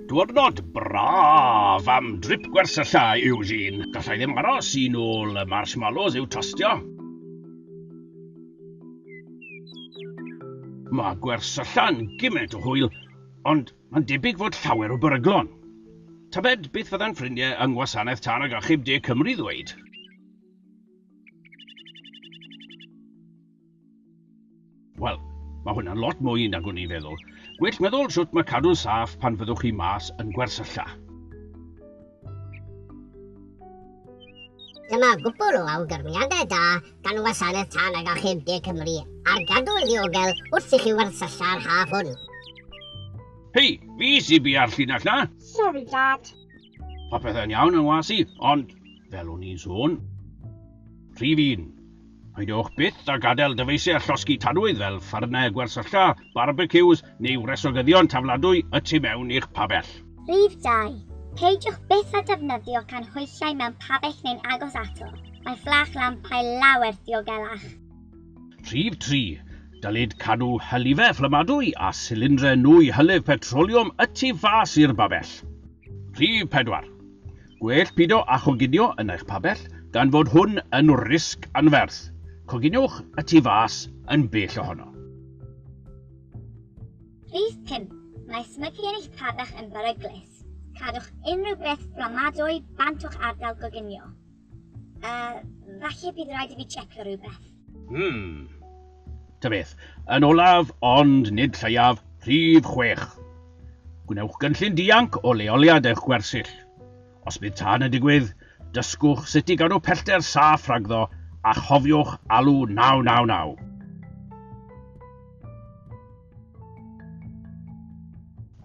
Diwrnod braf am drip gwersyllau, Eugene. Gallai ddim aros i nôl y marshmallows i'w tostio. Mae gwersylla'n gymaint o hwyl, ond mae'n debyg fod llawer o beryglon. Tybed beth fyddan ffrindiau yng Ngwasanaeth Tân ac Achub De Cymru ddweud? Wel, mae hwnna'n lot mwy nag o'n i'n feddwl. Gwell meddwl sut mae cadw'n saff pan fyddwch chi mas yn gwersylla. Dyma gwpl o awgrymiadau da gan Wasanaeth Tân ag Achub De Cymru ar gadw'n ddiogel wrth i chi wersylla'r haf hwn. Hei, fi sy'n bia'r llinell na! Sorry, Dad. Pa pethau'n iawn yn was i, ond, fel o'n i'n sôn, rhif un, peidiwch byth a gadael dyfeisiau a llosgi tanwydd fel ffarnau gwersylla, barbeciws neu wresogyddion tafladwy y tu mewn i'ch pabell. Rhif dau, peidiwch byth â defnyddio canhwyllau mewn pabell neu'n agos ato, mae fflach lampau lawer diogelach. Rhif tri, dylid cadw hylifau fflamadwy a silindre nwy hylif petroliwm y tu fas i'r babell. Rhif pedwar, gwell pido â choginio yn eich pabell gan fod hwn yn risg anferth. Coginiwch y tu fas yn bell ohono. Rhif pump, mae smygu yn eich pabell yn beryglus. Cadwch unrhyw beth fflamadwy bant o'ch ardal goginio. Uh, falle bydd rhaid i fi checio rhywbeth. Hmm. Ta beth, yn olaf, ond nid lleiaf, rhif chwech. Gwnewch gynllun dianc o leoliad eich gwersyll. Os bydd tân yn digwydd, dysgwch sut i gadw pellter saff rhagddo a chofiwch alw 999.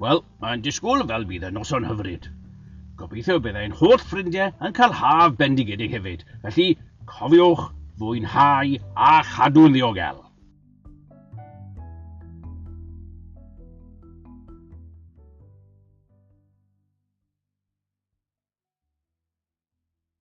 Wel, mae'n disgwyl fel bydd y noson hyfryd. Gobeithio y bydd ein holl ffrindiau yn cael haf bendigedig hefyd, felly cofiwch fwynhau a chadw'n ddiogel.